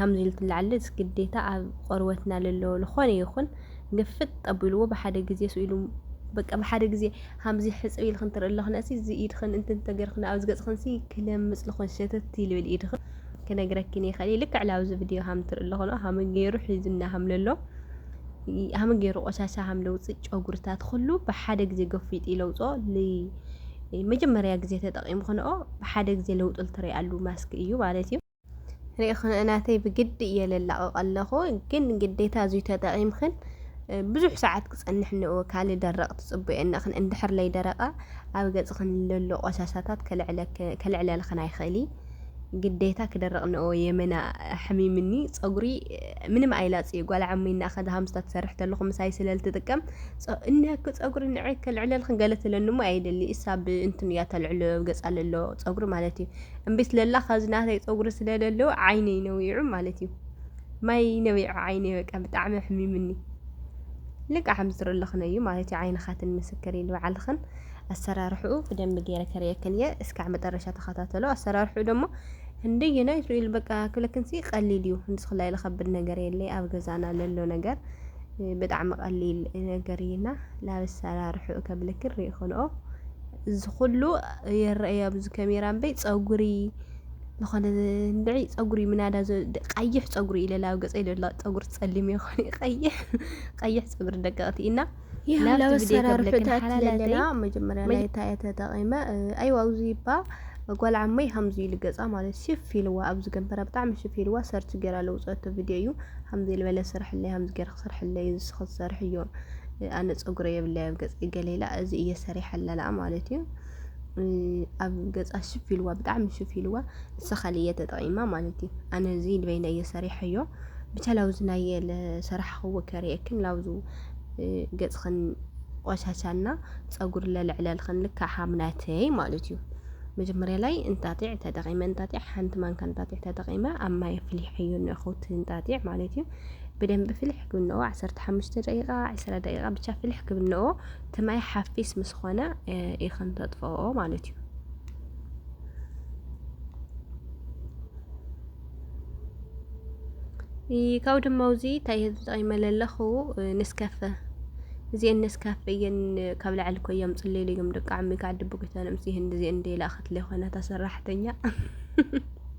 ሃምዚ ኢልትላ ዓልዝ ግዴታ ኣብ ቆርበትና ለለዎ ልኾነ ይኹን ግፍጥ ጠቢልዎ ብሓደ ግዜ ስኢሉ በቃ ብሓደ ግዜ ሃምዚ ሕጽብ ኢልክን ትርኢ ኣለኽነሲ እዚ ኢድኽን እንትን ተገርክን ኣብዚ ገጽኽንሲ ክለምጽ ልኾን ሸተት ይልብል ኢድኽን ክነግረኪን ይኸእል ልክዕ ላብዚ ቪድዮ ሃም ትርኢ ኣለኽኖ ሃመ ገይሩ ሒዙና ሃም ለሎ ሃመ ገይሩ ቆሻሻ ሃም ለውጽእ ጨጉርታት ኹሉ ብሓደ ግዜ ገፊጥ ይለውጾ መጀመርያ ግዜ ተጠቂምክንኦ ብሓደ ግዜ ለውጥል ትሪኣሉ ማስክ እዩ ማለት እዩ ርኢኽን ናተይ ብግዲ እየ ለላቕቕ ኣለኹ ግን ግዴታ እዙይ ተጠቒምኽን ብዙሕ ሰዓት ክፀንሕ እነኦ ካልእ ደረቕ ትፅበዮ እነኽን እንድሕር ለይደረቐ ኣብ ገፅኽን ለሎ ቆሻሻታት ከልዕለልኽን ኣይኽእል እዩ ግዴታ ክደረቕ እነኦ የመና ሕሚምኒ ፀጉሪ ምንም ኣይላፅዩ ጓል ዓመይ እና ከዛ ሃምስታ ትሰርሕ ተለኹ ምሳይ ስለ ልትጥቀም እነክ ፀጉሪ ንዐ ከልዕለልኽን ገለ ትለኒ እሞ ኣይደሊ እሳ ብእንትን እያ ተልዕሎ ገፃ ለሎ ፀጉሪ ማለት እዩ እምቢ ስለላ ካብዚ ናተይ ፀጉሪ ስለለለወ ዓይነይ ነዊዑ ማለት እዩ ማይ ነዊዑ ዓይነይ በቃ ብጣዕሚ ሕሚምኒ ልቃ ሓምዝር ኣለኽን እዩ ማለት እዩ ዓይንኻትን ምስክር ኢሉ በዓልኽን ኣሰራርሕኡ ብደንብ ገይረ ከርእየክን እየ እስካዕ መጠረሻ ተኸታተሎ ኣሰራርሕኡ ደግሞ እንደየና ይስኢሉ በቃ ክብለክንሲ ቀሊል እዩ ንስኽላ ኢለ ከብድ ነገር የለ ኣብ ገዛና ለሎ ነገር ብጣዕሚ ቀሊል ነገር እዩና ላብ ኣሰራርሕኡ ከብለክን ሪኢኽንኦ እዚ ኩሉ ይረኣይ ኣብዚ ከሜራ እምበይ ፀጉሪ ዝኾነ እንድዒ ፀጉሪ ምናዳ ቀይሕ ፀጉሪ ኢለ ኣብ ገፀይ ዘሎ ፀጉሪ ፀሊም ይኾን ቀይሕ ቀይሕ ፀጉሪ ደቀቕቲ ኢና ናብቲ ቪድዮ ከብለክን ሓላላተይ መጀመርያ ናይ ታየ ተጠቒመ ኣይዋ ኣብዚ እባ ጓል ዓመይ ከምዚ ኢሉ ገፃ ማለት ሽፍ ኢልዋ ኣብዚ ገንበራ ብጣዕሚ ሽፍ ኢልዋ ሰርች ገይራ ለውፀቶ ቪድዮ እዩ ከምዚ ዝበለ ስርሕለይ ከምዚ ገይርካ ክሰርሐለይ እዚ ስኽ ዝሰርሕዮ ኣነ ፀጉረ የብለይ ኣብ ገፀይ ገለ ኢላ እዚ እየ ሰሪሐለላ ማለት እዩ ኣብ ገፃ ሽፍ ኢልዋ ብጣዕሚ ሽፍ ኢልዋ ንሳ ካልእ እየ ተጠቒማ ማለት እዩ ኣነ እዚ ንበይነ እየ ሰሪሐዮ ብቻ ላውዚ ናይ የለ ሰራሕኽዎ ከርእየክን ላውዙ ገፅኽን ቆሻሻና ፀጉር ለልዕለልኽን ልካ ሓምናተይ ማለት እዩ መጀመሪያ ላይ እንጣጢዕ ተጠቒመ እንጣጢዕ ሓንቲ ማንካ እንጣጢዕ ተጠቒመ ኣብ ማይ ኣፍሊሐዮ ንእኹት እንጣጢዕ ማለት እዩ ብደንቢ ፍልሕ ክብነኦ ዓሰርተ ሓሙሽተ ደቂቃ ዕስራ ደቂቃ ብቻ ፍልሕ ክብነኦ ትማይ ሓፊስ ምስ ኾነ ኢኽን ተጥፈኦ ማለት እዩ። ካብኡ ድማ ውዚ እንታይ ተጠቂመ ለለኹ ንስከፈ እዚአን ነስካፈ እየን ካብ ላዕሊ እኮ እዮም ፅሌሉ እዮም ደቂ ዓሚ ከዓ ድብቁ ይተንምስ ይህን እዚአን ደላ ክትለ ኮነታ ሰራሕተኛ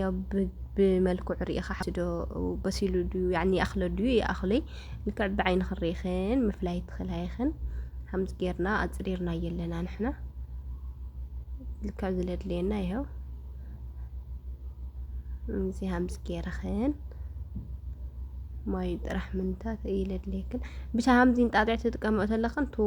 ያው ብመልክዑ ርኢኻ ሓንቲ ዶ በሲሉ ድዩ ያኒ ይኣኽሎ ድዩ ይኣኽሎይ ልክዕ ብዓይኒ ክንርኢኽን ምፍላይ ትኽእላ ይኽን ከምዚ ጌርና ኣጽሪርና የለና ንሕና ልክዕ ዝለድልየና ይኸው እዚ ሃምስ ጌርኽን ማይ ጥራሕ ምንታት ይለድልየክን ብቻ ሃምዚ እንጣጢዕ ትጥቀመኦ ተለኽን ቱ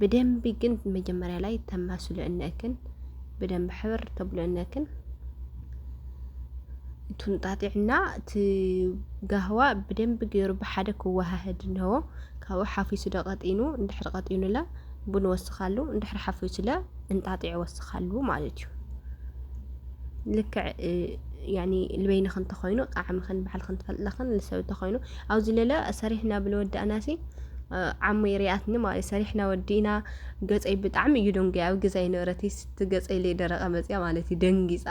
ብደንቢ ግን መጀመሪያ ላይ ተማስሉ እነክን ብደንቢ ሕብር ተብሎ እነክን ቱንጣጢዕና እቲ ጋህዋ ብደንቢ ገይሩ ብሓደ ክወሃህድ እንሆ ካብኡ ሓፊሱ ዶ ቀጢኑ እንድሕር ቀጢኑለ ቡን ወስኻሉ እንድሕር ሓፊሱለ እንጣጢዕ ወስኻሉ ማለት እዩ ልክዕ ያኒ ልበይንኽን ተኾይኑ ጣዕምኽን ባዕልኽን ትፈልጥለኽን ንሰብ ተኾይኑ ኣብዚ ለለ ሰሪሕና ብልወዳእናሲ ዓሙይ ሪኣትኒ ማለት ሰሪሕና ወዲእና ገፀይ ብጣዕሚ እዩ ደንጉያ ኣብ ገዛይ ነበረት ስቲ ገፀይ ለይ ደረቀ መፅያ ማለት እዩ ደንጊፃ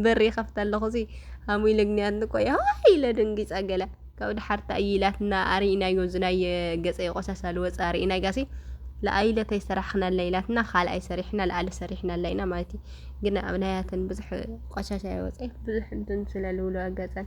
በሪ ከፍታ ኣለኹ ሲ ሃሙይ ለግንያት ንቆያ ኢለ ደንጊፃ ገለ ካብ ድሓርታ እዩ ኢላትና ኣርኢናዮ ዝናይ ገፀይ ቆሳሳ ልወፅ ኣርኢናያ ሲ ለኣይለተይ ሰራሕክናላ ኢላትና ካልኣይ ሰሪሕና ለኣለ ሰሪሕናላ ኢና ማለት እዩ ግና ኣብ ናያትን ብዙሕ ቆሻሻ ይወፀ ብዙሕ እንትን ስለልውሉ ኣጋፀን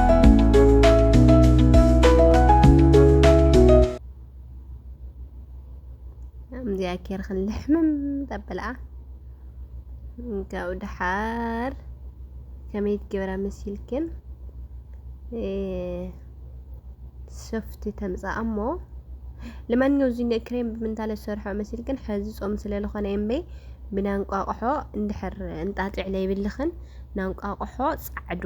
ኬር ክንልሕምም ጠብልኣ ካብኡ ድሓር ከመይ ትገብራ መሲልክን ሶፍቲ ተምፃእ እሞ ለማንኛው እዚ ክሬም ብምንታለ ዝሰርሖ መሲልክን ሕዚ ፆም ስለ ዝኾነ እምበይ ብናንቋቑሖ እንድሕር እንጣጢዕ ለይብልኽን ናንቋቑሖ ፃዕዱ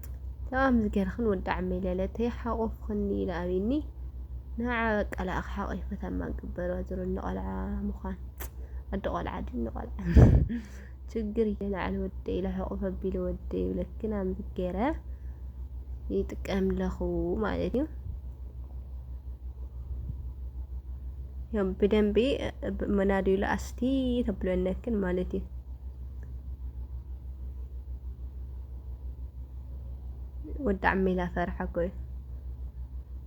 ተኣም ዝገርኽን ወዲ ዓመይ ለለተይ ሓቆፍኽኒ ኢለ ኣሚኒ ንዓ በቃ ለኣኽ ሓቂፈ ተማ ግበሮ ዝሮ ንቆልዓ ምዃን ኣዲ ቆልዓ ዲ ንቆልዓ ችግር እየናዕል ወደ ኢለ ሕቁፍ ኣቢለ ወደ ይብለክን ኣምዝገረ ይጥቀም ለኹ ማለት እዩ። ያው ብደንቢ መናድዩ ለኣስቲ ተብለነክን ማለት እዩ። ወዲ ዓሚላ ፈረሓ እኮ እዩ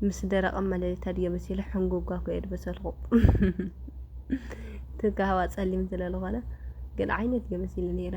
ምስ ደረቀ መለሊት ኣድዮ መሲሉ ሕንጉጓ እኮ እየ ድበሰልኩ ትጋ ሃዋ ጸሊም ስለ ዝኾነ ግን ዓይነ ድዮ መሲሉ ነይረ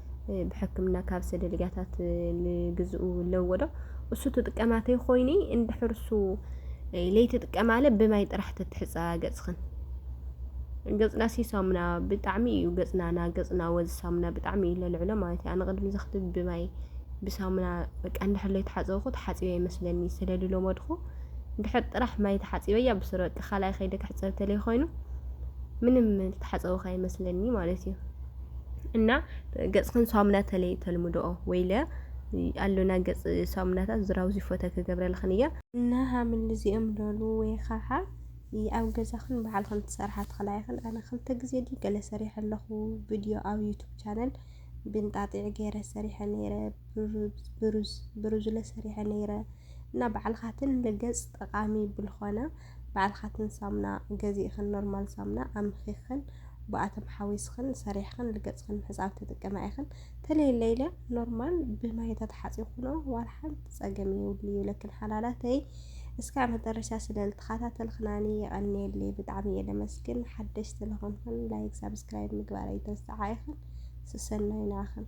ብሕክምና ካብ ሰደልጋታት ልግዝኡ ለወዶ እሱ ትጥቀማተ ኮይኒ እንድሕርሱ ለይትጥቀማለ ብማይ ጥራሕ ተትሕፃ ገፅኽን ገፅና ሲ ሳሙና ብጣዕሚ እዩ ገፅናና ገፅና ወዝ ሳሙና ብጣዕሚ እዩ ለልዕሎ ማለት እዩ ኣነ ቅድሚ ዘኽትብ ብማይ ብሳሙና በቃ እንድሕር ለይተሓፀብኩ ተሓፂበ ይመስለኒ ስለልለመድኹ እንድሕር ጥራሕ ማይ ተሓፂበያ ብስረ በቃ ካልኣይ ከይደ ክሕፀብ ተለይ ኮይኑ ምንም ተሓፀብካ ይመስለኒ ማለት እዩ እና ገጽክን ሳሙና ተለይ ተልምድኦ ወይለ ኣሎና ገጽ ሳሙናታት ዝራውዚ ፎተ ክገብረልኽን እያ እና ሃምል እዚኦም ዶሉ ወይ ኸዓ ኣብ ገዛኽን በዓልኽን ትሰርሓ ትኽላ ይኽን ኣነ ክልተ ግዜ ዲ ገለ ሰሪሐ ኣለኹ ቪድዮ ኣብ ዩቱብ ቻነል ብንጣጢዕ ገይረ ሰሪሐ ነይረ ብሩዝ ብሩዝለ ሰሪሐ ነይረ እና በዓልኻትን ንገጽ ጠቃሚ ብልኾነ ባዕልካትን ሳሙና ገዚእክን ኖርማል ሳሙና ኣምኪክን ብኣቶም ሓዊስክን ሰሪሕክን ልገጽክን ምሕጻብ ትጥቀማ ኢክን ተለይለ ኢለ ኖርማል ብማይ ተተሓጺብክኖ ዋላ ሓንቲ ጸገም ይውል ይብለክን ሓላላተይ እስካብ መጨረሻ ስለ ልተኸታተልክናኒ የቐንየለይ ብጣዕሚ እየ ለመስግን ሓደሽቲ ለኾንክን ላይክ ሳብስክራይብ ምግባር ኣይትርስዓ ኢክን ስሰናይ ንዓክን